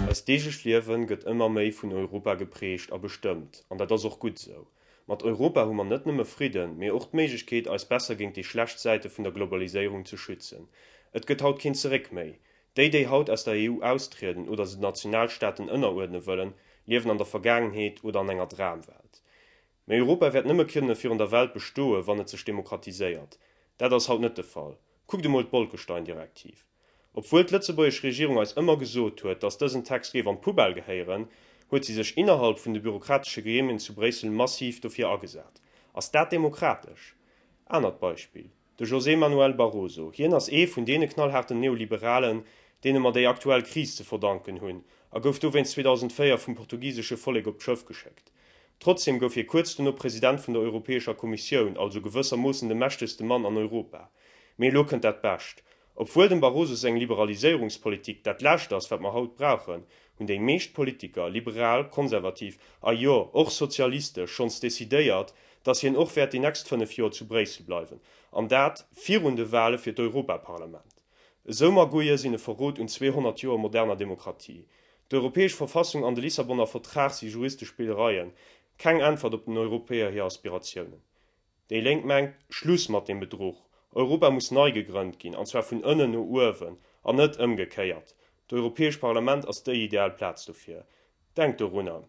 Eist deeglecht Liewen gëtt ëmmer méi vun Europa geprägt a bestëmmt, an dat ass och gutt esou. Mat Europa hu mer net nëmme Fridden, mee och d'Méiglechkeet eis besser géint déi schlecht Säite vun der Globaliséierung ze schützen. Et gëtt haut keen Zeréck méi. Déi, déi haut aus der EU austrieden oder se den Nationalstaaten ënneruerdne wëllen, liewen an der Vergaangenheet oder an enger Dramwelt. Mee Europa wäert nëmme kënne virun der Welt bestoen, wann et sech demokratiséiert. Dat ass haut net de Fall. Kuckt emol d'Bolkestein-Direktiv. Obwuel d'lëtzebuergesch Regierung eis ëmmer gesot huet, datt dësen Text géif an d'Poubelle gehéieren, huet si sech innerhalb vun de bürokratesche Gremien zu Bréissel massiv dofir agesat. Ass dat demokratesch? Anert Beispill. De José Manuel Barroso, hien ass ee vun deene knallhaarten Neoliberalen, deene mer déi aktuell Kris ze verdanken hunn, a gouf dowéinst 2004 vum portugisesche Vollek op d'Schëff geschéckt. Trotzdeem gouf hie kuerz dono President vun der Europäescher Kommissioun, also gewëssermoossen de mächtegste Mann an Europa. Mee elo kënnt dat Bescht, Obwuel dem Barroso seng Liberaliséierungspolitik dat lescht ass wat mer haut brauchen, hunn déi meescht Politiker, liberal, konservativ a jo och sozialistesch, schonns decidéiert, datt hien och wäert déi nächst 5 Joer zu Bréissel bleiwen, an dat virun de Wale fir d'Europaparlament. Esou Magouille sinn e Verrot un 200 Joer moderner Demokratie. D'Europäesch Verfassung an de Lissabonner Vertrag si juristesch Spillereien, keng Äntwert op den Europäer hir Aspiratiounen. Déi Lénk mengt, Schluss mat dem Bedruch! Europa muss nei gegrënnt ginn, an zwar vun ënnen no uewen, an net ëmgekéiert. D'Europäescht Parlament ass déi ideal Plaz dofir. Denkt dorunner,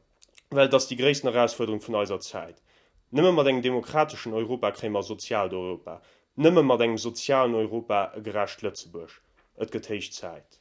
well et ass déi gréissten Erausfuerderung vun eiser Zäit. Nëmme mat engem demokrateschen Europa kréie mer e soziaalt Europa. Nëmme mat engem sozialen Europa e gerecht Lëtzebuerg. Et gëtt héich Zäit.